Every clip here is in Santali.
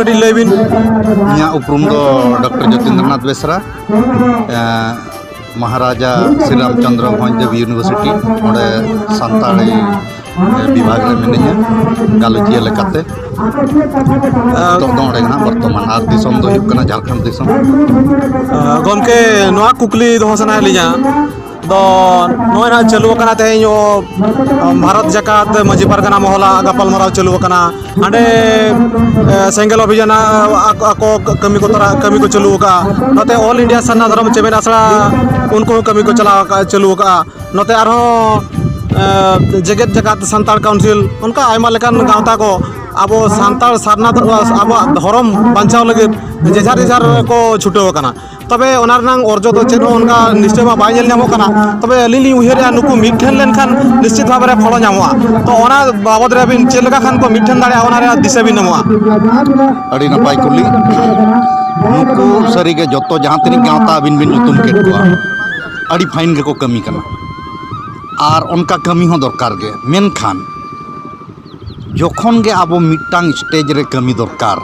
ᱠᱟᱹᱴᱤᱡ ᱞᱟᱹᱭ ᱵᱤᱱ ᱤᱧᱟᱹᱜ ᱩᱯᱨᱩᱢ ᱫᱚ ᱰᱚᱠᱴᱚᱨ ᱡᱚᱛᱤᱱᱫᱨᱚᱱᱟᱛᱷ ᱵᱮᱥᱨᱟ ᱢᱚᱦᱟᱨᱟᱡᱟ ᱥᱨᱤᱨᱟᱢᱪᱚᱱᱫᱨᱚ ᱵᱷᱚᱸᱡᱽ ᱫᱮᱵᱽ ᱤᱭᱩᱱᱤᱵᱷᱟᱨᱥᱤᱴᱤ ᱚᱸᱰᱮ ᱥᱟᱱᱛᱟᱲᱤ ᱵᱤᱵᱷᱟᱜᱽ ᱨᱮ ᱢᱤᱱᱟᱹᱧᱟ ᱜᱟᱞᱚᱪᱤᱭᱟᱹ ᱞᱮᱠᱟᱛᱮ ᱱᱤᱛᱚᱜ ᱫᱚ ᱚᱸᱰᱮ ᱜᱮᱱᱟᱜ ᱵᱚᱨᱛᱚᱢᱟᱱ ᱟᱨ ᱫᱤᱥᱚᱢ ᱫᱚ ᱦᱩᱭᱩᱜ ᱠᱟᱱᱟ ᱡᱷᱟᱲᱠᱷᱚᱸᱰ ᱫᱤᱥᱚᱢ ᱜᱚᱢᱠᱮ ᱱᱚᱣᱟ ᱠᱩᱠᱞᱤ ᱫᱚᱦᱚ ᱥᱟᱱᱟᱭᱮᱫ ᱞᱤᱧᱟ ᱫᱚ ᱱᱚᱜᱼᱚᱭ ᱱᱟᱜ ᱪᱟᱹᱞᱩ ᱟᱠᱟᱱᱟ ᱛᱮᱦᱮᱧ ᱵᱷᱟᱨᱚᱛ ᱡᱟᱠᱟᱛ ᱢᱟᱹᱡᱷᱤ ᱯᱟᱨᱜᱟᱱᱟ ᱢᱚᱦᱚᱞᱟ ᱜᱟᱯᱟᱞᱢᱟᱨᱟᱣ ᱪᱟᱹᱞᱩ ᱟᱠᱟᱱᱟ ᱦᱟᱸᱰᱮ ᱥᱮᱸᱜᱮᱞ ᱚᱵᱷᱤᱡᱟᱱ ᱟᱠᱚ ᱠᱟᱹᱢᱤ ᱠᱚ ᱛᱚᱨᱟ ᱠᱟᱹᱢᱤ ᱠᱚ ᱪᱟᱹᱞᱩ ᱟᱠᱟᱫᱼᱟ ᱱᱚᱛᱮ ᱚᱞ ᱤᱱᱰᱤᱭᱟ ᱥᱟᱨᱱᱟ ᱫᱷᱚᱨᱚᱢ ᱪᱮᱢᱮᱫ ᱟᱥᱲᱟ ᱩᱱᱠᱩ ᱦᱚᱸ ᱠᱟᱹᱢᱤ ᱠᱚ ᱪᱟᱞᱟᱣ ᱟᱠᱟᱫᱼᱟ ᱪᱟᱹᱞᱩ ᱟᱠᱟᱫᱼᱟ ᱱᱚᱛᱮ ᱟᱨᱦᱚᱸ ᱡᱮᱜᱮᱛ ᱡᱟᱠᱟᱛ ᱥᱟᱱᱛᱟᱲ ᱠᱟᱣᱩᱱᱥᱤᱞ ᱚᱱᱠᱟ ᱟᱭᱢᱟ ᱞᱮᱠᱟᱱ ᱜᱟᱶᱛᱟ ᱠᱚ ᱟᱵᱚ ᱥᱟᱱᱛᱟᱲ ᱥᱟᱨᱱᱟ ᱟᱵᱚᱣᱟᱜ ᱫᱷᱚᱨᱚᱢ ᱵᱟᱧᱪᱟᱣ ᱞᱟᱹᱜᱤᱫ ᱡᱮᱡᱷᱟᱨ ᱡᱮᱡᱷᱟᱨ ᱠᱚ ᱪᱷᱩᱴᱟᱹᱣ ᱟᱠᱟᱱᱟ ᱛᱚᱵᱮ ᱚᱱᱟ ᱨᱮᱱᱟᱝ ᱚᱨᱡᱚ ᱫᱚ ᱪᱮᱫ ᱦᱚᱸ ᱚᱱᱠᱟ ᱱᱤᱥᱪᱚᱭ ᱢᱟ ᱵᱟᱭ ᱧᱮᱞ ᱧᱟᱢᱚᱜ ᱠᱟᱱᱟ ᱛᱚᱵᱮ ᱟᱹᱞᱤᱧ ᱞᱤᱧ ᱩᱭᱦᱟᱹᱨᱮᱜᱼᱟ ᱱᱩᱠᱩ ᱢᱤᱫ ᱴᱷᱮᱱ ᱞᱮᱱᱠᱷᱟᱱ ᱱᱤᱥᱪᱤᱛ ᱵᱷᱟᱵᱮ ᱨᱮ ᱯᱷᱚᱞᱚ ᱧᱟᱢᱚᱜᱼᱟ ᱛᱚ ᱚᱱᱟ ᱵᱟᱵᱚᱫ ᱨᱮ ᱟᱹᱵᱤᱱ ᱪᱮᱫ ᱞᱮᱠᱟ ᱠᱷᱟᱱ ᱠᱚ ᱢᱤᱫ ᱴᱷᱮᱱ ᱫᱟᱲᱮᱭᱟᱜᱼᱟ ᱚᱱᱟ ᱨᱮᱭᱟᱜ ᱫᱤᱥᱟᱹ ᱵᱤᱱ ᱮᱢᱚᱜᱼᱟ ᱟᱹᱰᱤ ᱱᱟᱯᱟᱭ ᱠᱩᱞᱤ ᱱᱩᱠᱩ ᱥᱟᱹᱨᱤᱜᱮ ᱡᱚᱛᱚ ᱡᱟᱦᱟᱸ ᱛᱤᱱᱟᱹᱜ ᱜᱟᱶᱛᱟ ᱟᱹᱵᱤᱱ ᱵᱤᱱ ᱧᱩᱛᱩᱢ ᱠᱮᱫ ᱠᱚᱣᱟ ᱟᱹᱰᱤ ᱯᱷᱟᱭᱤᱱ ᱜᱮᱠᱚ ᱠᱟᱹᱢᱤ ᱠᱟᱱᱟ ᱟᱨ ᱚᱱᱠᱟ ᱠᱟᱹᱢᱤ ᱦᱚᱸ ᱫᱚᱨᱠᱟᱨ ᱜᱮ ᱢᱮᱱᱠᱷᱟᱱ ᱡᱚᱠᱷᱚᱱ ᱜᱮ ᱟᱵᱚ ᱢᱤᱫᱴᱟᱝ ᱥᱴᱮᱡᱽ ᱨᱮ ᱠᱟᱹᱢᱤ ᱫᱚᱨᱠᱟᱨ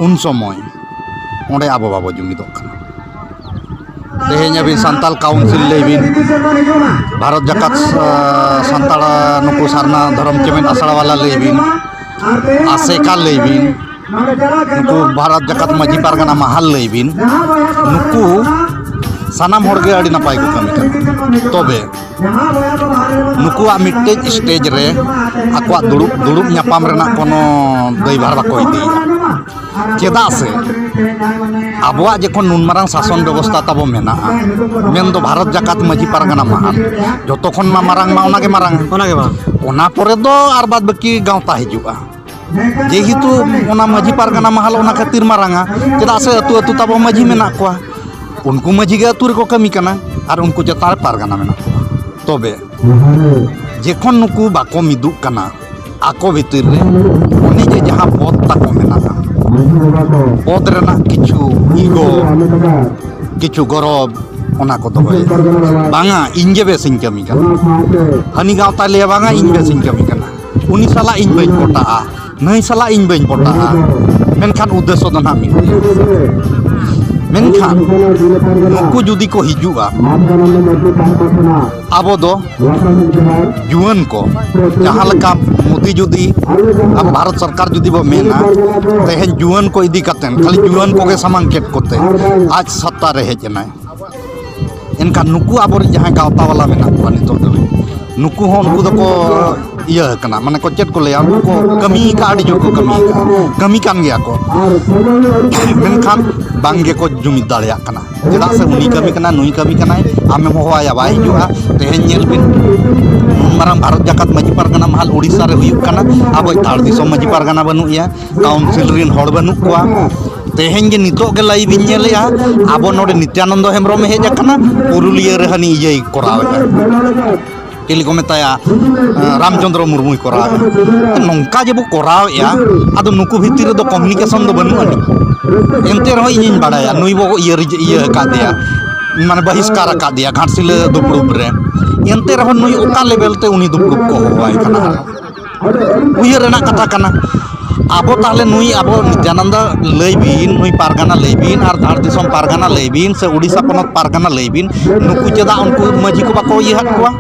ᱩᱱ ᱥᱚᱢᱚᱭ ᱚᱸᱰᱮ ᱟᱵᱚ ᱵᱟᱵᱚ ᱡᱩᱢᱤᱫᱚᱜ ᱠᱟᱱᱟ ᱛᱮᱦᱮᱧ ᱟᱹᱵᱤᱱ ᱥᱟᱱᱛᱟᱲ ᱠᱟᱣᱩᱱᱥᱤᱞ ᱞᱟᱹᱭ ᱵᱤᱱ ᱵᱷᱟᱨᱚᱛ ᱡᱟᱠᱟᱛ ᱥᱟᱱᱛᱟᱲ ᱱᱩᱠᱩ ᱥᱟᱨᱱᱟ ᱫᱷᱚᱨᱚᱢ ᱪᱮᱢᱮᱫ ᱟᱥᱲᱟ ᱵᱟᱞᱟ ᱞᱟᱹᱭ ᱵᱤᱱ ᱟᱥᱮᱠᱟ ᱞᱟᱹᱭ ᱵᱤᱱ ᱱᱩᱠᱩ ᱵᱷᱟᱨᱚᱛ ᱡᱟᱠᱟᱛ ᱢᱟᱹᱡᱷᱤ ᱯᱟᱨᱜᱟᱱᱟ ᱢᱟᱦᱟᱞ ᱞᱟᱹᱭ ᱵᱤᱱ ᱱᱩᱠᱩ ᱥᱟᱱᱟᱢ ᱦᱚᱲ ᱜᱮ ᱟᱹᱰᱤ ᱱᱟᱯᱟᱭ ᱠᱚ ᱠᱟᱹᱢᱤ ᱠᱟᱱᱟ ᱛᱚᱵᱮ ᱱᱩᱠᱩᱣᱟᱜ ᱢᱤᱫᱴᱮᱡ ᱥᱴᱮᱡ ᱨᱮ ᱟᱠᱚᱣᱟᱜ ᱫᱩᱲᱩᱵ ᱫᱩᱲᱩᱵ ᱧᱟᱯᱟᱢ ᱨᱮᱱᱟᱜ ᱠᱳᱱᱳ ᱫᱟᱹᱭᱵᱷᱟᱨ ᱵᱟᱠᱚ ᱤᱫᱤᱭᱟ ᱪᱮᱫᱟᱜ ᱥᱮ ᱟᱵᱚᱣᱟᱜ ᱡᱚᱠᱷᱚᱱ ᱱᱩᱱ ᱢᱟᱨᱟᱝ ᱥᱟᱥᱚᱱ ᱵᱮᱵᱚᱥᱛᱷᱟ ᱛᱟᱵᱚ ᱢᱮᱱᱟᱜᱼᱟ ᱢᱮᱱᱫᱚ ᱵᱷᱟᱨᱚᱛ ᱡᱟᱠᱟᱛ ᱢᱟᱹᱡᱷᱤ ᱯᱟᱨᱜᱟᱱᱟ ᱢᱟᱦᱟᱞ ᱡᱚᱛᱚ ᱠᱷᱚᱱ ᱢᱟ ᱢᱟᱨᱟᱝ ᱢᱟ ᱚᱱᱟᱜᱮ ᱢᱟᱨᱟᱝ ᱚᱱᱟᱜᱮ ᱢᱟᱨᱟᱝ ᱚᱱᱟ ᱯᱚᱨᱮ ᱫᱚ ᱟᱨ ᱵᱟᱫ ᱵᱟᱹᱠᱤ ᱜᱟᱶᱛᱟ ᱦᱤᱡᱩᱜᱼᱟ ᱡᱮᱦᱮᱛᱩ ᱚᱱᱟ ᱢᱟᱹᱡᱷᱤ ᱯᱟᱨᱜᱟᱱᱟ ᱢᱟᱦᱟᱞ ᱚᱱᱟ ᱠᱷᱟᱹᱛᱤᱨ ᱢᱟᱨᱟᱝᱟ ᱪᱮᱫᱟᱜ ᱥᱮ ᱟᱹᱛᱩ ᱟᱹᱛᱩ ᱛᱟᱵᱚ ᱢᱟᱹᱡᱷᱤ ᱢᱮᱱᱟᱜ ᱠᱚᱣᱟ ᱩᱱᱠᱩ ᱢᱟᱹᱡᱷᱤ ᱜᱮ ᱟᱹᱛᱩ ᱨᱮᱠᱚ ᱠᱟᱹᱢᱤ ᱠᱟᱱᱟ ᱟᱨ ᱩᱱᱠᱩ ᱪᱮᱛᱟᱱ ᱨᱮ ᱯᱟᱨᱜᱟᱱᱟ ᱢᱮᱱᱟᱜ ᱠᱚᱣᱟ ᱛᱚᱵᱮ ᱡᱚᱠᱷᱚᱱ ᱱᱩᱠᱩ ᱵᱟᱠᱚ ᱢᱤᱫᱩᱜ ᱠᱟᱱᱟ ᱟᱠᱚ ᱵᱷᱤᱛᱤᱨ ᱨᱮ ᱩᱱᱤ ᱡᱮ ᱡᱟᱦᱟᱸ ᱯᱚᱫ ᱛᱟᱠᱚ ᱢᱮᱱᱟᱜᱼᱟ ᱯᱚᱫ ᱨᱮᱱᱟᱜ ᱠᱤᱪᱷᱩ ᱤᱜᱚ ᱠᱤᱪᱷᱩ ᱜᱚᱨᱚᱵᱽ ᱚᱱᱟ ᱠᱚ ᱫᱚᱦᱚᱭᱟ ᱵᱟᱝᱟ ᱤᱧᱜᱮ ᱵᱮᱥᱤᱧ ᱠᱟᱹᱢᱤ ᱠᱟᱱᱟ ᱦᱟᱹᱱᱤ ᱜᱟᱶᱛᱟᱭ ᱞᱟᱹᱭᱟ ᱵᱟᱝᱟ ᱤᱧ ᱵᱮᱥᱤᱧ ᱠᱟᱹᱢᱤ ᱠᱟᱱᱟ ᱩᱱᱤ ᱥᱟᱞᱟᱜ ᱤᱧ ᱵᱟᱹᱧ ᱯᱚᱴᱟᱜᱼᱟ ᱱᱟᱹᱭ ᱥᱟᱞᱟᱜ ᱤᱧ ᱵᱟᱹᱧ ᱯᱚᱴᱟᱜᱼᱟ ᱢᱮᱱᱠᱷᱟᱱ ᱩᱫᱽᱫᱮᱥᱚ ᱫᱚ ᱱᱟᱦᱟᱜ ᱢᱤᱫ ᱜᱮᱭᱟ ᱢᱮᱱᱠᱷᱟᱱ ᱱᱩᱠᱩ ᱡᱩᱫᱤ ᱠᱚ ᱦᱤᱡᱩᱜᱼᱟ ᱟᱵᱚ ᱫᱚ ᱡᱩᱣᱟᱹᱱ ᱠᱚ ᱡᱟᱦᱟᱸ ᱞᱮᱠᱟ ᱢᱳᱫᱤ ᱡᱩᱫᱤ ᱟᱵᱚ ᱵᱷᱟᱨᱚᱛ ᱥᱚᱨᱠᱟᱨ ᱡᱩᱫᱤ ᱵᱚ ᱢᱮᱱᱟ ᱛᱮᱦᱮᱧ ᱡᱩᱣᱟᱹᱱ ᱠᱚ ᱤᱫᱤ ᱠᱟᱛᱮᱫ ᱠᱷᱟᱹᱞᱤ ᱡᱩᱣᱟᱹᱱ ᱠᱚᱜᱮ ᱥᱟᱢᱟᱝ ᱠᱮᱫ ᱠᱚᱛᱮ ᱟᱡ ᱥᱚᱛᱛᱟ ᱨᱮ ᱦᱮᱡ ᱮᱱᱟᱭ ᱮᱱᱠᱷᱟᱱ ᱱᱩᱠᱩ ᱟᱵᱚᱨᱮᱱ ᱡᱟᱦᱟᱸᱭ ᱜᱟᱶᱛᱟ ᱵᱟᱞᱟ ᱢᱮᱱᱟᱜ ᱠᱚᱣᱟ ᱱᱤᱛᱚᱜ ᱫᱚ ᱱᱩᱠᱩ ᱦᱚᱸ ᱱᱩᱠᱩ ᱫᱚᱠᱚ ᱤᱭᱟᱹ ᱠᱟᱱᱟ ᱢᱟᱱᱮ ᱠᱚ ᱪᱮᱫ ᱠᱚ ᱞᱟᱹᱭᱟ ᱩᱱᱠᱩ ᱠᱚ ᱠᱟᱹᱢᱤ ᱠᱟᱜ ᱟᱹᱰᱤ ᱡᱳᱨ ᱠᱚ ᱠᱟᱹᱢᱤ ᱠᱟᱜ ᱠᱟᱹᱢᱤ ᱠᱟᱱ ᱜᱮᱭᱟ ᱠᱚ ᱢᱮᱱᱠᱷᱟᱱ ᱵᱟᱝ ᱜᱮᱠᱚ ᱡᱩᱢᱤᱫ ᱫᱟᱲᱮᱭᱟᱜ ᱠᱟᱱᱟ ᱪᱮᱫᱟᱜ ᱥᱮ ᱩᱱᱤ ᱠᱟᱹᱢᱤ ᱠᱟᱱᱟ ᱱᱩᱭ ᱠᱟᱹᱢᱤ ᱠᱟᱱᱟᱭ ᱟᱢᱮᱢ ᱦᱚᱦᱚᱣᱟᱭᱟ ᱵᱟᱭ ᱦᱤᱡᱩᱜᱼᱟ ᱛᱮᱦᱮᱧ ᱧᱮᱞ ᱵᱤᱱ ᱱᱩᱱ ᱢᱟᱨᱟᱝ ᱵᱷᱟᱨᱚᱛ ᱡᱟᱠᱟᱛ ᱢᱟᱹᱡᱷᱤ ᱯᱟᱨᱜᱟᱱᱟ ᱢᱟᱦᱟᱞ ᱳᱰᱤᱥᱟ ᱨᱮ ᱦᱩᱭᱩᱜ ᱠᱟᱱᱟ ᱟᱵᱚᱭᱤᱡ ᱫᱷᱟᱲ ᱫᱤᱥᱚᱢ ᱢᱟᱹᱡᱷᱤ ᱯᱟᱨᱜᱟᱱᱟ ᱵᱟᱹᱱᱩᱜ ᱮᱭᱟ ᱠᱟᱣᱩᱱᱥᱤᱞ ᱨᱮᱱ ᱦᱚᱲ ᱵᱟᱹᱱᱩᱜ ᱠᱚᱣᱟ ᱛᱮᱦᱮᱧ ᱜᱮ ᱱᱤᱛᱚᱜ ᱜᱮ ᱞᱟᱭᱤᱵᱷ ᱤᱧ ᱧᱮᱞᱮᱜᱼᱟ ᱟᱵᱚ ᱱᱚᱰᱮ ᱱᱤᱛᱭᱟᱱᱚᱱᱫᱚ ᱦᱮᱢᱵᱨᱚᱢ ᱮ ᱦᱮᱡ ᱟᱠᱟᱱᱟ ᱯᱩᱨᱩᱞᱤᱭᱟᱹ ᱨᱮ ᱦᱟᱹᱱᱤ ᱤᱭᱟᱹᱭ ᱠᱚᱨᱟᱣᱮᱜᱼᱟ ᱪᱤᱞᱤ ᱠᱚ ᱢᱮᱛᱟᱭᱟ ᱨᱟᱢᱪᱚᱱᱫᱨᱚ ᱢᱩᱨᱢᱩᱭ ᱠᱚᱨᱟᱣᱮᱜᱼᱟ ᱱᱚᱝᱠᱟ ᱡᱮᱵᱚ ᱠᱚᱨᱟᱣᱮᱜᱼᱟ ᱟᱫᱚ ᱱᱩᱠᱩ ᱵᱷᱤᱛᱤᱨ ᱨᱮᱫᱚ ᱠᱚᱢᱤᱱᱤᱠᱮᱥᱚᱱ ᱫᱚ ᱵᱟᱹᱱᱩᱜ ᱟᱹᱱᱤᱡ ᱮᱱᱛᱮ ᱨᱮᱦᱚᱸ ᱤᱧᱤᱧ ᱵᱟᱲᱟᱭᱟ ᱱᱩᱭ ᱵᱚ ᱤᱭᱟᱹ ᱤᱭᱟᱹ ᱟᱠᱟᱫᱮᱭᱟ ᱢᱟᱱᱮ ᱵᱟᱹᱦᱤᱥᱠᱟᱨ ᱟᱠᱟᱫᱮᱭᱟ ᱜᱷᱟᱴᱥᱤᱞᱟᱹ ᱫᱩᱯᱲᱩᱵ ᱨᱮ ᱮᱱᱛᱮ ᱨᱮᱦᱚᱸ ᱱᱩᱭ ᱚᱠᱟ ᱞᱮᱵᱮᱞ ᱛᱮ ᱩᱱᱤ ᱫᱩᱯᱲᱩᱵ ᱠᱚ ᱦᱚᱦᱚᱣᱟᱭ ᱠᱟᱱᱟ ᱩᱭᱦᱟᱹᱨ ᱨᱮᱱᱟᱜ ᱠᱟᱛᱷᱟ ᱠᱟᱱᱟ ᱟᱵᱚ ᱛᱟᱦᱚᱞᱮ ᱱᱩᱭ ᱟᱵᱚ ᱡᱟᱱᱟᱢ ᱫᱚ ᱞᱟᱹᱭ ᱵᱤᱱ ᱱᱩᱭ ᱯᱟᱨᱜᱟᱱᱟ ᱞᱟᱹᱭ ᱵᱤᱱ ᱟᱨ ᱫᱷᱟᱲ ᱫᱤᱥᱚᱢ ᱯᱟᱨᱜᱟᱱᱟ ᱞᱟᱹᱭ ᱵᱤᱱ ᱥᱮ ᱳᱰᱤᱥᱟ ᱯᱚᱱᱚᱛ ᱯᱟᱨᱜᱟᱱᱟ ᱞᱟᱹᱭ ᱵᱤᱱ ᱱᱩᱠᱩ ᱪᱮᱫᱟᱜ ᱩᱱᱠᱩ ᱢᱟᱹᱡᱷᱤ ᱠᱚ ᱵᱟᱠᱚ ᱤᱭᱟᱹ ᱟᱫ ᱠᱚᱣᱟ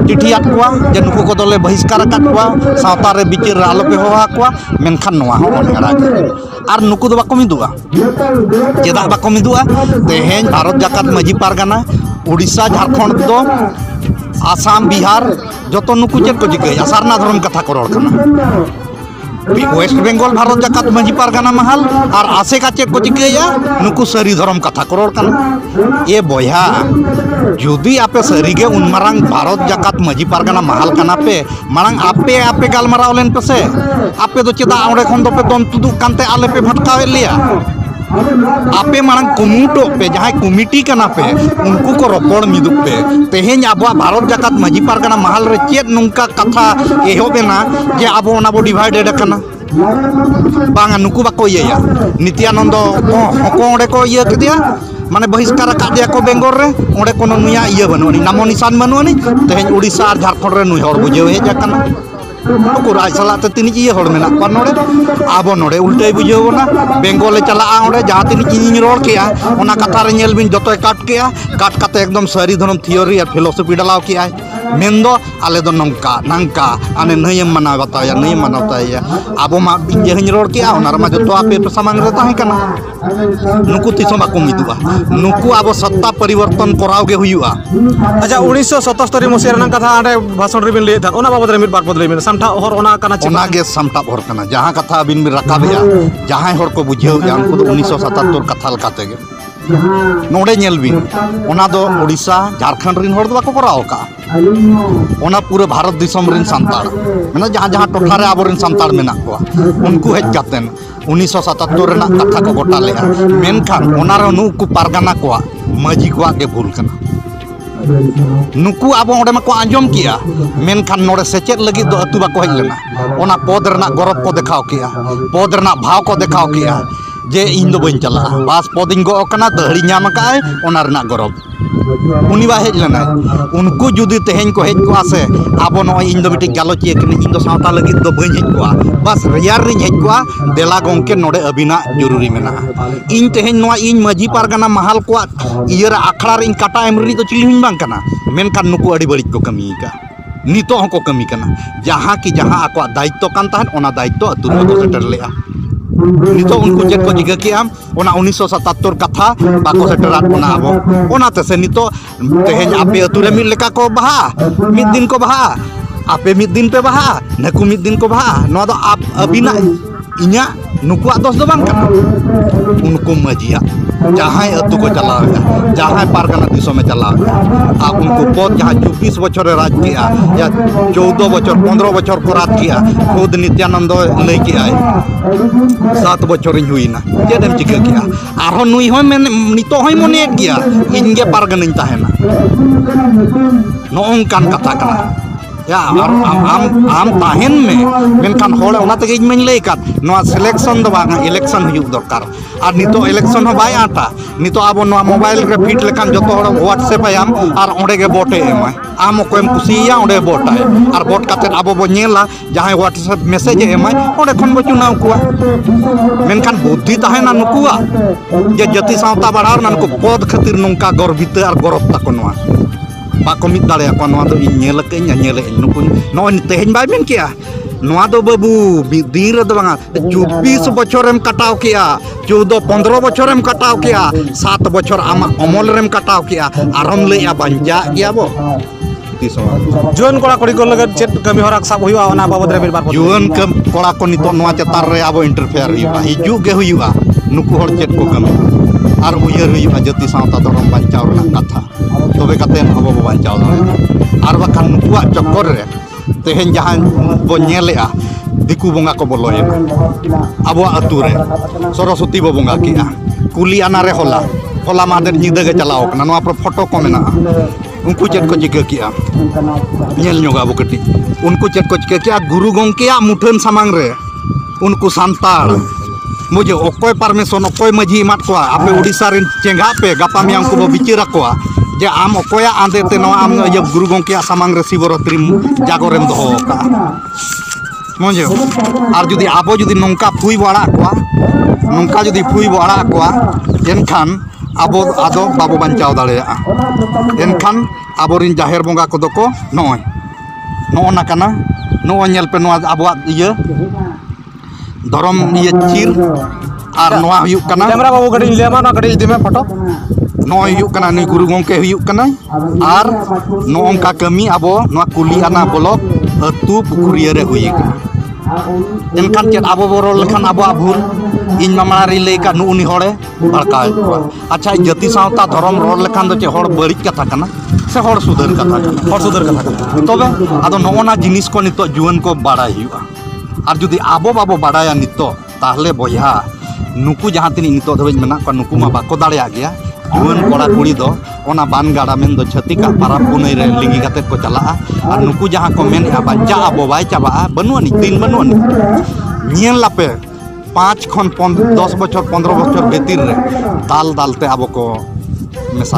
ᱪᱤᱴᱷᱤᱭᱟᱫ ᱠᱚᱣᱟ ᱡᱮ ᱱᱩᱠᱩ ᱠᱚᱫᱚᱞᱮ ᱵᱚᱦᱤᱥᱠᱟᱨ ᱟᱠᱟᱫ ᱠᱚᱣᱟ ᱥᱟᱶᱛᱟ ᱨᱮ ᱵᱤᱪᱟᱹᱨ ᱨᱮ ᱟᱞᱚᱯᱮ ᱦᱚᱦᱚ ᱟᱠᱚᱣᱟ ᱢᱮᱱᱠᱷᱟᱱ ᱱᱚᱣᱟ ᱦᱚᱸ ᱵᱚᱱ ᱮᱲᱟᱣ ᱠᱮᱫᱟ ᱟᱨ ᱱᱩᱠᱩ ᱫᱚ ᱵᱟᱠᱚ ᱢᱤᱫᱚᱜᱼᱟ ᱪᱮᱫᱟᱜ ᱵᱟᱠᱚ ᱢᱤᱫᱚᱜᱼᱟ ᱛᱮᱦᱮᱧ ᱵᱷᱟᱨᱚᱛ ᱡᱟᱠᱟᱛ ᱢᱟᱹᱡᱷᱤ ᱯᱟᱨᱜᱟᱱᱟ ᱳᱰᱤᱥᱟ ᱡᱷᱟᱲᱠᱷᱚᱸᱰ ᱫᱚ ᱟᱥᱟᱢ ᱵᱤᱦᱟᱨ ᱡᱚᱛᱚ ᱱᱩᱠᱩ ᱪᱮᱫ ᱠᱚ ᱪᱤᱠᱟᱹᱭᱟ ᱥᱟᱨᱱᱟ ᱫᱷᱚᱨᱚᱢ ᱠᱟᱛᱷᱟ ᱠᱚ ᱨᱚᱲ ᱠᱟᱱᱟ ᱳᱭᱮᱥᱴ ᱵᱮᱝᱜᱚᱞ ᱵᱷᱟᱨᱚᱛ ᱡᱟᱠᱟᱛ ᱢᱟᱹᱡᱷᱤ ᱯᱟᱨᱜᱟᱱᱟ ᱢᱟᱦᱟᱞ ᱟᱨ ᱟᱥᱮᱠᱟ ᱪᱮᱫ ᱠᱚ ᱪᱤᱠᱟᱹᱭᱟ ᱱᱩᱠᱩ ᱥᱟᱹᱨᱤ ᱫᱷᱚᱨᱚᱢ ᱠᱟᱛᱷᱟ ᱠᱚ ᱨᱚᱲ ᱠᱟᱱᱟ ᱮ ᱵᱚᱭᱦᱟ ᱡᱩᱫᱤ ᱟᱯᱮ ᱥᱟᱹᱨᱤᱜᱮ ᱩᱱ ᱢᱟᱨᱟᱝ ᱵᱷᱟᱨᱚᱛ ᱡᱟᱠᱟᱛ ᱢᱟᱹᱡᱷᱤ ᱯᱟᱨᱜᱟᱱᱟ ᱢᱟᱦᱟᱞ ᱠᱟᱱᱟ ᱯᱮ ᱢᱟᱲᱟᱝ ᱟᱯᱮ ᱟᱯᱮ ᱜᱟᱞᱢᱟᱨᱟᱣ ᱞᱮᱱ ᱯᱮᱥᱮ ᱟᱯᱮ ᱫᱚ ᱪᱮᱫᱟᱜ ᱚᱸᱰᱮ ᱠᱷᱚᱱ ᱫᱚᱯᱮ ᱫᱚᱱ ᱛᱩᱫᱩᱜ ᱠᱟᱱᱛᱮ ᱟᱞᱮ ᱯᱮ ᱵᱷᱟᱴᱠᱟᱣᱮᱫ ᱞᱮᱭᱟ ᱟᱯᱮ ᱢᱟᱲᱟᱝ ᱠᱩᱢᱩᱴᱚᱜ ᱯᱮ ᱡᱟᱦᱟᱸᱭ ᱠᱚᱢᱤᱴᱤ ᱠᱟᱱᱟ ᱯᱮ ᱩᱱᱠᱩ ᱠᱚ ᱨᱚᱯᱚᱲ ᱢᱤᱫᱩᱜ ᱯᱮ ᱛᱮᱦᱮᱧ ᱟᱵᱚᱣᱟᱜ ᱵᱷᱟᱨᱚᱛ ᱡᱟᱠᱟᱛ ᱢᱟᱹᱡᱷᱤ ᱯᱟᱨᱜᱟᱱᱟ ᱢᱟᱦᱟᱞ ᱨᱮ ᱪᱮᱫ ᱱᱚᱝᱠᱟ ᱠᱟᱛᱷᱟ ᱮᱦᱚᱵ ᱮᱱᱟ ᱡᱮ ᱟᱵᱚ ᱚᱱᱟ ᱵᱚ ᱰᱤᱵᱷᱟᱭᱰᱮᱰ ᱟᱠᱟᱱᱟ ᱵᱟᱝᱟ ᱱᱩᱠᱩ ᱵᱟᱠᱚ ᱤᱭᱟᱹᱭᱟ ᱱᱤᱛᱭᱟᱱᱚᱱᱫᱚ ᱦᱚᱸᱠᱚ ᱚᱸᱰᱮ ᱠᱚ ᱤᱭᱟᱹ ᱠᱮᱫᱮᱭᱟ ᱢᱟᱱᱮ ᱵᱚᱦᱤᱥᱠᱟᱨ ᱟᱠᱟᱫ ᱫᱮᱭᱟ ᱠᱚ ᱵᱮᱝᱜᱚᱞ ᱨᱮ ᱚᱸᱰᱮ ᱠᱳᱱᱳ ᱱᱩᱭᱟᱜ ᱤᱭᱟᱹ ᱵᱟᱹᱱᱩᱜ ᱟᱹᱱᱤᱡ ᱱᱟᱢᱚ ᱱᱤᱥᱟᱱ ᱵᱟᱹᱱᱩᱜ ᱟᱹᱱᱤᱡ ᱛᱮᱦᱮᱧ ᱩᱲᱤᱥᱥᱟ ᱟᱨ ᱡᱷᱟᱲᱠᱷᱚᱸᱰ ᱨᱮ ᱱᱩᱭ ᱦᱚᱲ ᱵᱩᱡᱷᱟᱹᱣ ᱦᱮᱡ ᱟᱠᱟᱱᱟ ᱩᱠᱩᱨ ᱟᱡ ᱥᱟᱞᱟᱜ ᱛᱮ ᱛᱤᱱᱤᱡ ᱤᱭᱟᱹ ᱦᱚᱲ ᱢᱮᱱᱟᱜ ᱠᱚᱣᱟ ᱱᱚᱰᱮ ᱟᱵᱚ ᱱᱚᱰᱮ ᱩᱞᱴᱟᱹᱭ ᱵᱩᱡᱷᱟᱹᱣ ᱵᱚᱱᱟ ᱵᱮᱝᱜᱚᱞᱮ ᱪᱟᱞᱟᱜᱼᱟ ᱚᱸᱰᱮ ᱡᱟᱦᱟᱸ ᱛᱤᱱᱤᱡ ᱤᱧᱤᱧ ᱨᱚᱲ ᱠᱮᱜᱼᱟ ᱚᱱᱟ ᱠᱟᱛᱷᱟ ᱨᱮ ᱧᱮᱞ ᱵᱤᱱ ᱡᱚᱛᱚᱭ ᱠᱟᱴ ᱠᱮᱜᱼᱟ ᱠᱟᱴ ᱠᱟᱛᱮ ᱮᱠᱫᱚᱢ ᱥᱟᱹᱨᱤ ᱫᱷᱚᱨᱚᱢ ᱛᱷᱤᱭᱳᱨᱤ ᱟᱨ ᱯᱷᱤᱞᱳᱥᱚᱯᱷᱤ ᱰᱟᱞᱟᱣ ᱠᱮᱜᱼᱟᱭ ᱢᱮᱱ ᱫᱚ ᱟᱞᱮ ᱫᱚ ᱱᱚᱝᱠᱟ ᱱᱟᱝᱠᱟ ᱟᱱᱮ ᱱᱟᱹᱭᱮᱢ ᱢᱟᱱᱟᱣ ᱵᱟᱛᱟᱣᱮᱭᱟ ᱱᱟᱹᱭᱮᱢ ᱢᱟᱱᱟᱣ ᱵᱟᱛᱟᱣᱮᱭᱟ ᱟᱵᱚ ᱢᱟ ᱤᱧ ᱡᱟᱦᱟᱸᱧ ᱨᱚᱲ ᱠᱮᱜᱼᱟ ᱚᱱᱟ ᱨᱮᱢᱟ ᱡᱚᱛᱚ ᱟᱯᱮ ᱥᱟᱢᱟᱝ ᱨᱮ ᱛᱟᱦᱮᱸ ᱠᱟᱱᱟ ᱱᱩᱠᱩ ᱛᱤᱥ ᱦᱚᱸ ᱵᱟᱠᱚ ᱢᱤᱫᱚᱜᱼᱟ ᱱᱩᱠᱩ ᱟᱵᱚ ᱥᱚᱛᱛᱟ ᱯᱚᱨᱤᱵᱚᱨᱛᱚᱱ ᱠᱚᱨᱟᱣ ᱜᱮ ᱦᱩᱭᱩᱜᱼᱟ ᱟᱪᱪᱷᱟ ᱩᱱᱤᱥᱥᱚ ᱥᱚᱛᱚᱥᱛᱚᱨᱤ ᱢᱩᱥᱤᱭᱟ ᱨᱮᱱᱟᱜ ᱠᱟᱛᱷᱟ ᱟᱸᱰᱮ ᱵᱷᱟᱥᱚᱱ ᱨᱮᱵᱤᱱ ᱞᱟᱹᱭᱮᱫ ᱛᱟᱦᱮᱸᱫ ᱚᱱᱟ ᱵᱟᱵᱚᱫ ᱨᱮ ᱢᱤᱫ ᱵᱟᱨ ᱯᱚᱫ ᱞᱟᱹᱭ ᱵᱤᱱ ᱥᱟᱢᱴᱟᱣ ᱦᱚᱨ ᱚᱱᱟ ᱠᱟᱱᱟ ᱪᱮᱫ ᱚᱱᱟᱜᱮ ᱥᱟᱢᱴᱟᱣ ᱦᱚᱨ ᱠᱟᱱᱟ ᱡᱟᱦᱟᱸ ᱠᱟᱛᱷᱟ ᱟᱹᱵᱤᱱ ᱵᱤᱱ ᱨᱟᱠᱟᱵᱮᱜᱼᱟ ᱡᱟᱦᱟᱸᱭ ᱦᱚᱲ ᱠᱚ ᱵᱩᱡᱷᱟᱹᱣᱮᱜᱼᱟ ᱩᱱᱠᱩ ᱫᱚ ᱩᱱᱤᱥᱥᱚ ᱥᱟᱛᱟᱛᱛᱳᱨ ᱠᱟᱛᱷᱟ ᱞᱮᱠᱟ ᱛᱮᱜᱮ ᱱᱚᱰᱮ ᱧᱮᱞ ᱵᱤᱱ ᱚᱱᱟ ᱫᱚ ᱳᱰᱤᱥᱟ ᱡᱷᱟᱲᱠᱷᱚᱸᱰ ᱨᱤᱱ ᱦᱚᱲ ᱫᱚ ᱵᱟᱠᱚ ᱠᱚᱨᱟᱣ ᱟᱠᱟᱫᱼᱟ ᱚᱱᱟ ᱯᱩᱨᱟᱹ ᱵᱷᱟᱨᱚᱛ ᱫᱤᱥᱚᱢ ᱨᱤᱱ ᱥᱟᱱᱛᱟᱲ ᱢᱟᱱᱮ ᱡᱟᱦᱟᱸ ᱡᱟᱦᱟᱸ ᱴᱚᱴᱷᱟ ᱨᱮ ᱟᱵᱚ ᱨᱤᱱ ᱥᱟᱱᱛᱟᱲ ᱢᱮᱱᱟᱜ ᱠᱚᱣᱟ ᱩᱱᱠᱩ ᱦᱮᱡ ᱠᱟᱛᱮᱫ ᱩᱱᱤᱥᱥᱚ ᱥᱟᱛᱟᱛᱛᱳᱨ ᱨᱮᱱᱟᱜ ᱠᱟᱛᱷᱟ ᱠᱚ ᱜᱚᱴᱟ ᱞᱮᱫᱼᱟ ᱢᱮᱱᱠᱷᱟᱱ ᱚᱱᱟ ᱨᱮ ᱱᱩᱠᱩ ᱯᱟᱨᱜᱟᱱᱟ ᱠᱚᱣᱟᱜ ᱢᱟᱹᱡᱷᱤ ᱠᱚᱣᱟᱜ ᱜᱮ ᱵᱷᱩᱞ ᱠᱟᱱᱟ ᱱᱩᱠᱩ ᱟᱵᱚ ᱚᱸᱰᱮ ᱢᱟᱠᱚ ᱟᱸᱡᱚᱢ ᱠᱮᱜᱼᱟ ᱢᱮᱱᱠᱷᱟᱱ ᱱᱚᱰᱮ ᱥᱮᱪᱮᱫ ᱞᱟᱹᱜᱤᱫ ᱫᱚ ᱟᱹᱛᱩ ᱵᱟᱠᱚ ᱦᱮᱡ ᱞᱮᱱᱟ ᱚᱱᱟ ᱯᱚᱫᱽ ᱨᱮᱱᱟᱜ ᱜᱚᱨᱚᱵᱽ ᱠᱚ ᱫᱮᱠᱷᱟᱣ ᱠᱮᱜᱼᱟ ᱯᱚᱫᱽ ᱨᱮᱱᱟᱜ ᱵᱷᱟᱣ ᱠᱚ ᱫᱮᱠᱷᱟᱣ ᱠᱮᱜᱼᱟ ᱡᱮ ᱤᱧ ᱫᱚ ᱵᱟᱹᱧ ᱪᱟᱞᱟᱜᱼᱟ ᱵᱟᱥ ᱯᱚᱫᱽ ᱤᱧ ᱜᱚᱜ ᱟᱠᱟᱱᱟ ᱫᱟᱹᱦᱲᱤ ᱧᱟᱢ ᱟᱠᱟᱫ ᱟᱭ ᱚᱱᱟ ᱨᱮᱱᱟᱜ ᱜᱚᱨᱚᱵᱽ ᱩᱱᱤ ᱵᱟᱭ ᱦᱮᱡ ᱞᱮᱱᱟᱭ ᱩᱱᱠᱩ ᱡᱩᱫᱤ ᱛᱮᱦᱮᱧ ᱠᱚ ᱦᱮᱡ ᱠᱚᱜᱼᱟ ᱥᱮ ᱟᱵᱚ ᱱᱚᱜᱼᱚᱭ ᱤᱧ ᱫᱚ ᱢᱤᱫᱴᱤᱡ ᱜᱟᱞᱚᱪᱤᱭᱟᱹ ᱠᱟᱹᱱᱟᱹᱧ ᱤᱧ ᱫᱚ ᱥᱟᱶᱛᱟ ᱞᱟᱹᱜᱤᱫ ᱫᱚ ᱵᱟᱹᱧ ᱦᱮᱡ ᱠᱚᱜᱼᱟ ᱵᱟᱥ ᱨᱮᱭᱟᱲ ᱨᱤᱧ ᱦᱮᱡ ᱠᱚᱜᱼᱟ ᱫᱮᱞᱟ ᱜᱚᱢᱠᱮ ᱱᱚᱰᱮ ᱟᱹᱵᱤᱱᱟᱜ ᱡᱩᱨᱩᱨᱤ ᱢᱮᱱᱟᱜᱼᱟ ᱤᱧ ᱛᱮᱦᱮᱧ ᱱᱚᱣᱟ ᱤᱧ ᱢᱟᱹᱡᱷᱤ ᱯᱟᱨᱜᱟᱱᱟ ᱢᱟᱦᱟᱞ ᱠᱚᱣᱟᱜ ᱤᱭᱟᱹ ᱨᱮ ᱟᱠᱷᱲᱟ ᱨᱮ ᱤᱧ ᱠᱟᱴᱟ ᱮᱢ ᱨᱤᱱᱤᱡ ᱫᱚ ᱪᱤᱞᱤ ᱦᱚᱸ ᱵᱟᱝ ᱠᱟᱱᱟ ᱢᱮᱱᱠᱷᱟᱱ ᱱᱩᱠᱩ ᱟᱹᱰᱤ ᱵᱟᱹᱲᱤᱡ ᱠᱚ ᱠᱟᱹᱢᱤ ᱟᱠᱟᱫᱼᱟ ᱱᱤᱛᱚᱜ ᱦᱚᱸᱠᱚ ᱠᱟᱹᱢᱤ ᱠᱟᱱᱟ ᱡᱟᱦᱟᱸ ᱠᱤ ᱡᱟᱦᱟᱸ ᱟᱠᱚᱣᱟᱜ ᱫᱟᱭᱤᱛᱛᱚ ᱠᱟᱱ ᱛᱟᱦᱮᱸᱫ ᱚᱱᱟ ᱫᱟᱭᱤᱛᱛᱚ ᱟᱹᱛᱩ ᱨᱮ ᱵᱟᱠᱚ ᱥᱮᱴᱮᱨ ᱞᱮᱫᱼᱟ ᱱᱤᱛᱚᱜ ᱩᱱᱠᱩ ᱪᱮᱫ ᱠᱚ ᱪᱤᱠᱟᱹ ᱠᱮᱫᱼᱟ ᱚᱱᱟ ᱩᱱᱤᱥᱥᱚ ᱥᱟᱛᱟᱛᱛᱳᱨ ᱠᱟᱛᱷᱟ ᱵᱟᱠᱚ ᱥᱮᱴᱮᱨᱟᱫ ᱵᱚᱱᱟ ᱟᱵᱚ ᱚᱱᱟᱛᱮ ᱥᱮ ᱱᱤᱛᱚᱜ ᱛᱮᱦᱮᱧ ᱟᱯᱮ ᱟᱹᱛᱩ ᱨᱮ ᱢᱤᱫ ᱞᱮᱠᱟ ᱠᱚ ᱵᱟᱦᱟᱜᱼᱟ ᱢᱤᱫ ᱫᱤᱱ ᱠᱚ ᱵᱟᱦᱟᱜᱼᱟ ᱟᱯᱮ ᱢᱤᱫ ᱫᱤᱱ ᱯᱮ ᱵᱟᱦᱟᱜᱼᱟ ᱱᱟᱹᱠᱩ ᱢᱤᱫ ᱫᱤᱱ ᱠᱚ ᱵᱟᱦᱟᱜᱼᱟ ᱱᱚᱣᱟ ᱫᱚ ᱟᱯ ᱟᱹᱵᱤᱱᱟᱜ ᱤᱧᱟᱹᱜ ᱱᱩᱠᱩᱣᱟᱜ ᱫᱚᱥ ᱫᱚ ᱵᱟᱝ ᱠᱟᱱᱟ ᱩᱱᱠᱩ ᱢᱟᱹᱡᱷᱤᱭᱟᱜ ᱡᱟᱦᱟᱸᱭ ᱟᱹᱛᱩ ᱠᱚ ᱪᱟᱞᱟᱣᱮᱫᱼᱟ ᱡᱟᱦᱟᱸᱭ ᱯᱟᱨᱜᱟᱱᱟ ᱫᱤᱥᱚᱢᱮ ᱪᱟᱞᱟᱣᱮᱫᱼᱟ ᱟᱨ ᱩᱱᱠᱩ ᱯᱚᱫ ᱡᱟᱦᱟᱸ ᱪᱚᱵᱵᱤᱥ ᱵᱚᱪᱷᱚᱨᱮ ᱨᱟᱡᱽ ᱠᱮᱜᱼᱟ ᱭᱟ ᱪᱳᱣᱫᱚ ᱵᱚᱪᱷᱚᱨ ᱯᱚᱱᱫᱨᱚ ᱵᱚᱪᱷᱚᱨ ᱠᱚ ᱨᱟᱡᱽ ᱠᱮᱜᱼᱟ ᱠᱷᱩᱫᱽ ᱱᱤᱛᱭᱟᱱᱚᱱᱫᱚᱭ ᱞᱟᱹᱭ ᱠᱮᱜᱼᱟᱭ ᱥᱟᱛ ᱵᱚᱪᱷᱚᱨᱤᱧ ᱦᱩᱭᱱᱟ ᱪᱮᱫ ᱮᱢ ᱪᱤᱠᱟᱹ ᱠᱮᱜᱼᱟ ᱟᱨᱦᱚᱸ ᱱᱩᱭ ᱦᱚᱸ ᱢᱮᱱ ᱱᱤᱛᱚᱜ ᱦᱚᱸᱭ ᱢᱚᱱᱮᱭᱮᱫ ᱜᱮᱭᱟ ᱤᱧ ᱜᱮ ᱯᱟᱨᱜᱟᱱᱟᱧ ᱛᱟᱦᱮᱱᱟ ᱱᱚᱜᱼᱚᱝᱠᱟᱱ ᱠᱟᱛᱷᱟ ᱠᱟᱱᱟ ᱭᱟ ᱟᱨ ᱟᱢ ᱟᱢ ᱟᱢ ᱛᱟᱦᱮᱱ ᱢᱮ ᱢᱮᱱᱠᱷᱟᱱ ᱦᱚᱲ ᱚᱱᱟ ᱛᱮᱜᱮ ᱤᱧ ᱢᱟᱧ ᱞᱟᱹᱭ ᱟᱠᱟᱫ ᱱᱚᱣᱟ ᱥᱤᱞᱮᱠᱥᱚᱱ ᱫᱚ ᱵᱟᱝ ᱤᱞᱮᱠᱥᱚᱱ ᱦᱩᱭᱩᱜ ᱫᱚᱨᱠᱟᱨ ᱟᱨ ᱱᱤᱛᱚᱜ ᱤᱞᱮᱠᱥᱚᱱ ᱦᱚᱸ ᱵᱟᱭ ᱟᱸᱴᱟ ᱱᱤᱛᱚᱜ ᱟᱵᱚ ᱱᱚᱣᱟ ᱢᱳᱵᱟᱭᱤᱞ ᱨᱮ ᱯᱷᱤᱴ ᱞᱮᱠᱷᱟᱱ ᱡᱚᱛᱚ ᱦᱚᱲ ᱦᱳᱣᱟᱴᱥᱮᱯ ᱟᱭᱟᱢ ᱟᱨ ᱚᱸᱰᱮ ᱜᱮ ᱵᱷᱳᱴᱮ ᱮᱢᱟ ᱟᱢ ᱚᱠᱚᱭᱮᱢ ᱠᱩᱥᱤᱭᱟᱭᱟ ᱚᱸᱰᱮ ᱵᱷᱳᱴᱟᱭ ᱟᱨ ᱵᱷᱳᱴ ᱠᱟᱛᱮᱫ ᱟᱵᱚ ᱵᱚᱱ ᱧᱮᱞᱟ ᱡᱟᱦᱟᱸᱭ ᱦᱳᱣᱟᱴᱥᱮᱯ ᱢᱮᱥᱮᱡᱽ ᱮ ᱮᱢᱟᱭ ᱚᱸᱰᱮ ᱠᱷᱚᱱ ᱵᱚ ᱪᱩᱱᱟᱣ ᱠᱚᱣᱟ ᱢᱮᱱᱠᱷᱟᱱ ᱵᱩᱫᱽᱫᱷᱤ ᱛᱟᱦᱮᱱᱟ ᱱᱩᱠᱩᱣᱟᱜ ᱡᱮ ᱡᱟᱹᱛᱤ ᱥᱟᱶᱛᱟ ᱵᱟᱲᱦᱟᱣ ᱨᱮᱱᱟᱜ ᱱᱩᱠᱩ ᱯᱚᱫ ᱠᱷᱟᱹᱛᱤᱨ ᱱᱚᱝᱠᱟ ᱜᱚᱨᱵᱤᱛᱟᱹ ᱟᱨ ᱜᱚᱨᱚᱵ ᱛᱟᱠᱚ ᱱᱚᱣᱟ ᱵᱟᱠᱚ ᱢᱤᱫ ᱫᱟᱲᱮᱭᱟ ᱠᱚᱣᱟ ᱱᱚᱣᱟ ᱫᱚ ᱤᱧ ᱧᱮᱞ ᱟᱠᱟᱫ ᱟᱹᱧ ᱧᱮᱞᱮᱫ ᱟᱹᱧ ᱱᱩᱠᱩ ᱱᱚᱜᱼᱚᱭ ᱛᱮᱦᱮᱧ ᱵᱟᱭ ᱢᱮᱱ ᱠᱮᱜᱼᱟ ᱱᱚᱣᱟ ᱫᱚ ᱵᱟᱹᱵᱩ ᱢᱤᱫ ᱫᱤᱱ ᱨᱮᱫᱚ ᱵᱟᱝᱟ ᱪᱚᱵᱵᱤᱥ ᱵᱚᱪᱷᱚᱨᱮᱢ ᱠᱟᱴᱟᱣ ᱠᱮᱜᱼᱟ ᱪᱳᱫᱚ ᱯᱚᱱᱫᱨᱚ ᱵᱚᱪᱷᱚᱨᱮᱢ ᱠᱟᱴᱟᱣ ᱠᱮᱜᱼᱟ ᱥᱟᱛ ᱵᱚᱪᱷᱚᱨ ᱟᱢᱟᱜ ᱚᱢᱚᱞ ᱨᱮᱢ ᱠᱟᱴᱟᱣ ᱠᱮᱜᱼᱟ ᱟᱨᱚᱢ ᱞᱟᱹᱭᱮᱜᱼᱟ ᱵᱟᱧᱪᱟᱜ ᱜᱮᱭᱟ ᱵᱚ ᱡᱩᱣᱟᱹᱱ ᱠᱚᱲᱟ ᱠᱩᱲᱤ ᱠᱚ ᱞᱟᱹᱜᱤᱫ ᱪᱮᱫ ᱠᱟᱹᱢᱤ ᱦᱚᱨᱟ ᱥᱟᱵ ᱦᱩᱭᱩᱜᱼᱟ ᱚᱱᱟ ᱵᱟᱵᱚᱫ ᱨᱮ ᱢᱤᱫ ᱵᱟᱨ ᱡᱩᱣᱟᱹᱱ ᱠᱚᱲᱟ ᱠᱚ ᱱᱤᱛᱚᱜ ᱱᱚᱣᱟ ᱪᱮᱛᱟᱱ ᱨᱮ ᱟᱵᱚ ᱤᱱᱴᱟᱨᱯᱷᱮᱭᱟᱨ ᱦᱩᱭᱩᱜᱼᱟ ᱦᱤᱡᱩᱜ ᱜᱮ ᱦᱩᱭᱩᱜᱼᱟ ᱱᱩᱠᱩ ᱦᱚᱲ ᱪᱮᱫ ᱠᱚ ᱠᱟᱹᱢᱤ ᱟᱨ ᱩᱭᱦᱟᱹᱨ ᱦᱩᱭᱩᱜᱼᱟ ᱡᱟᱹᱛᱤ ᱥᱟᱶᱛᱟ ᱫᱷᱚᱨᱚᱢ ᱵᱟᱧᱪᱟᱣ ᱨᱮᱱᱟᱜ ᱠᱟᱛᱷᱟ ᱛᱚᱵᱮ ᱠᱟᱛᱮ ᱟᱵᱚ ᱵᱚ ᱵᱟᱧᱪᱟᱣ ᱫᱟᱲᱮᱭᱟᱜᱼᱟ ᱟᱨ ᱵᱟᱠᱷᱟᱱ ᱱᱩᱠᱩᱣᱟᱜ ᱪᱚᱠᱠᱚᱨ ᱨᱮ ᱛᱮᱦᱮᱧ ᱡᱟᱦᱟᱸ ᱵᱚ ᱧᱮᱞᱮᱜᱼᱟ ᱫᱤᱠᱩ ᱵᱚᱸᱜᱟ ᱠᱚ ᱵᱚᱞᱚᱭᱮᱱᱟ ᱟᱵᱚᱣᱟᱜ ᱟᱹᱛᱩ ᱨᱮ ᱥᱚᱨᱚᱥᱚᱛᱤ ᱵᱚ ᱵᱚᱸᱜᱟ ᱠᱮᱜᱼᱟ ᱠᱩᱞᱤᱭᱟᱱᱟ ᱨᱮ ᱦᱚᱞᱟ ᱦᱚᱞᱟ ᱢᱟᱦᱫᱮᱨ ᱧᱤᱫᱟᱹ ᱜᱮ ᱪᱟᱞᱟᱣ ᱠᱟᱱᱟ ᱱᱚᱣᱟ ᱠᱚᱨᱮ ᱯᱷᱳᱴᱳ ᱠᱚ ᱢᱮᱱᱟᱜᱼᱟ ᱩᱱᱠᱩ ᱪᱮᱫ ᱠᱚ ᱪᱤᱠᱟᱹ ᱠᱮᱜᱼᱟ ᱧᱮᱞ ᱧᱚᱜᱟ ᱟᱵᱚ ᱠᱟᱹᱴᱤᱡ ᱩᱱᱠᱩ ᱪᱮᱫ ᱠᱚ ᱪᱤᱠᱟᱹ ᱠᱮᱜᱼᱟ ᱜᱩᱨᱩ ᱜᱚᱢᱠᱮᱭᱟᱜ ᱢᱩᱴᱷᱟᱹᱱ ᱥᱟᱢᱟᱝ ᱨᱮ ᱩᱱᱠᱩ ᱥᱟᱱᱛᱟᱲ ᱵᱩᱡᱷᱟᱹᱣ ᱚᱠᱚᱭ ᱯᱟᱨᱢᱤᱥᱚᱱ ᱚᱠᱚᱭ ᱢᱟᱹᱡᱷᱤ ᱮᱢᱟᱫ ᱠᱚᱣᱟ ᱟᱯᱮ ᱩᱲᱤᱥᱥᱟ ᱨᱮᱱ ᱪᱮᱸᱜᱷᱟ ᱯᱮ ᱜᱟᱯᱟ ᱢᱮᱭᱟᱝ ᱠᱚᱵᱚ ᱵᱤᱪᱟᱹᱨ ᱟᱠᱚᱣᱟ ᱡᱮ ᱟᱢ ᱚᱠᱚᱭᱟᱜ ᱟᱸᱫᱮ ᱛᱮ ᱱᱚᱣᱟ ᱟᱢ ᱤᱭᱟᱹ ᱜᱩᱨᱩ ᱜᱚᱢᱠᱮᱭᱟᱜ ᱥᱟᱢᱟᱝ ᱨᱮ ᱥᱤᱵᱚᱨᱟᱛᱨᱤ ᱡᱟᱜᱚᱨᱮᱢ ᱫᱚᱦᱚ ᱟᱠᱟᱫᱼᱟ ᱢᱚᱡᱮ ᱟᱨ ᱡᱩᱫᱤ ᱟᱵᱚ ᱡᱩᱫᱤ ᱱᱚᱝᱠᱟ ᱯᱷᱩᱭ ᱵᱚ ᱟᱲᱟᱜ ᱠᱚᱣᱟ ᱱᱚᱝᱠᱟ ᱡᱩᱫᱤ ᱯᱷᱩᱭ ᱵᱚ ᱟᱲᱟᱜ ᱠᱚᱣᱟ ᱮᱱᱠᱷᱟᱱ ᱟᱵᱚ ᱟᱫᱚ ᱵᱟᱵᱚ ᱵᱟᱧᱪᱟᱣ ᱫᱟᱲᱮᱭᱟᱜᱼᱟ ᱮᱱᱠᱷᱟᱱ ᱟᱵᱚᱨᱤᱱ ᱡᱟᱦᱮᱨ ᱵᱚᱸᱜᱟ ᱠᱚᱫᱚ ᱠᱚ ᱱᱚᱜᱼᱚᱭ ᱱᱚᱜᱼᱚ ᱱᱟ ᱠᱟᱱᱟ ᱱᱚᱜᱼᱚᱭ ᱧᱮᱞ ᱯᱮ ᱱᱚᱣᱟ ᱟᱵᱚᱣᱟᱜ ᱤᱭᱟᱹ ᱫᱷᱚᱨᱚᱢ ᱤᱭᱟᱹ ᱪᱤᱨ ᱟᱨ ᱱᱚᱣᱟ ᱦᱩᱭᱩᱜ ᱠᱟᱱᱟ ᱠᱮᱢᱨᱟ ᱵᱟᱹᱵᱩ ᱠᱟᱹᱴᱤᱡ ᱞᱟᱹᱭ ᱟᱢᱟ ᱱᱚᱣᱟ ᱠᱟᱹᱴᱤᱡ ᱤᱫᱤ ᱢᱮ ᱯᱷᱳᱴᱳ ᱱᱚᱜᱼᱚᱭ ᱦᱩᱭᱩᱜ ᱠᱟᱱᱟ ᱱᱩᱭ ᱜᱩᱨᱩ ᱜᱚᱢᱠᱮ ᱦᱩᱭᱩᱜ ᱠᱟᱱᱟᱭ ᱟᱨ ᱱᱚᱜᱼᱚᱝᱠᱟ ᱠᱟᱹᱢᱤ ᱟᱵᱚ ᱱᱚᱣᱟ ᱠᱩᱞᱤᱭᱟᱱᱟ ᱵᱞᱚᱠ ᱟᱹᱛᱩ ᱯᱩᱠᱷᱩᱨᱤᱭᱟᱹ ᱨᱮ ᱦᱩᱭ ᱠᱟᱱᱟ ᱮᱱᱠᱷᱟᱱ ᱪᱮᱫ ᱟᱵᱚ ᱵᱚ ᱨᱚᱲ ᱞᱮᱠᱷᱟᱱ ᱟᱵᱚᱣᱟᱜ ᱵᱷᱩᱞ ᱤᱧ ᱢᱟ ᱢᱟᱲᱟᱝ ᱨᱤᱧ ᱞᱟᱹᱭ ᱠᱟᱜ ᱱᱩᱜ ᱩᱱᱤ ᱦᱚᱲᱮ ᱵᱷᱟᱲᱠᱟᱣᱮᱫ ᱠᱚᱣᱟ ᱟᱪᱪᱷᱟ ᱡᱟᱹᱛᱤ ᱥᱟᱶᱛᱟ ᱫᱷᱚᱨᱚᱢ ᱨᱚᱲ ᱞᱮᱠᱷᱟᱱ ᱫᱚ ᱪᱮᱫ ᱦᱚᱲ ᱵᱟᱹᱲᱤᱡ ᱠᱟᱛᱷᱟ ᱠᱟᱱᱟ ᱥᱮ ᱦᱚᱲ ᱥᱩᱫᱷᱟᱹᱨ ᱠᱟᱛᱷᱟ ᱠᱟᱱᱟ ᱦᱚᱲ ᱥᱩᱫᱷᱟᱹᱨ ᱠᱟᱛᱷᱟ ᱠᱟᱱᱟ ᱛᱚᱵᱮ ᱟᱫᱚ ᱱᱚᱜᱼᱚ ᱱᱟ ᱡᱤᱱᱤᱥ ᱠᱚ ᱱᱤᱛᱚᱜ ᱡᱩᱣᱟᱹᱱ ᱠᱚ ᱵᱟᱲᱟᱭ ᱦᱩᱭᱩᱜᱼᱟ ᱟᱨ ᱡᱩᱫᱤ ᱟᱵᱚ ᱵᱟᱵᱚ ᱵᱟᱲᱟᱭᱟ ᱱᱤᱛᱚᱜ ᱛᱟᱦᱞᱮ ᱵᱚᱭᱦᱟ ᱱᱩᱠᱩ ᱡᱟᱦᱟᱸ ᱛᱤᱱᱟᱹᱜ ᱱᱤᱛᱚᱜ ᱫᱷᱟᱹᱵᱤᱡ ᱢᱮᱱᱟᱜ ᱠᱚᱣᱟ ᱱᱩᱠᱩ ᱢᱟ ᱵᱟᱠᱚ ᱫᱟᱲᱮᱭᱟᱜ ᱜᱮᱭᱟ ᱡᱩᱣᱟᱹᱱ ᱠᱚᱲᱟ ᱠᱩᱲᱤ ᱫᱚ ᱚᱱᱟ ᱵᱟᱱ ᱜᱟᱰᱟ ᱢᱮᱱᱫᱚ ᱪᱷᱟᱹᱛᱤᱠᱟᱜ ᱯᱟᱨᱟᱵᱽ ᱯᱩᱱᱟᱹᱭ ᱨᱮ ᱞᱤᱸᱜᱤ ᱠᱟᱛᱮ ᱠᱚ ᱪᱟᱞᱟᱜᱼᱟ ᱟᱨ ᱱᱩᱠᱩ ᱡᱟᱦᱟᱸ ᱠᱚ ᱢᱮᱱᱮᱜᱼᱟ ᱵᱟᱧᱪᱟᱜ ᱟᱵᱚ ᱵᱟᱭ ᱪᱟᱵᱟᱜᱼᱟ ᱵᱟᱹᱱᱩᱜ ᱟᱹᱱᱤᱡ ᱫᱤᱱ ᱵᱟᱹᱱᱩᱜ ᱟᱹᱱᱤᱡ ᱧᱮᱞ ᱟᱯᱮ ᱯᱟᱸᱪ ᱠᱷᱚᱱ ᱫᱚᱥ ᱵᱚᱪᱷᱚᱨ ᱯᱚᱱᱨᱚ ᱵᱚᱪᱷᱚᱨ ᱵᱷᱤᱛᱤᱨ ᱨᱮ ᱫᱟᱞ ᱫᱟᱞ ᱛᱮ ᱟᱵᱚ ᱠᱚ ᱢᱮᱥᱟ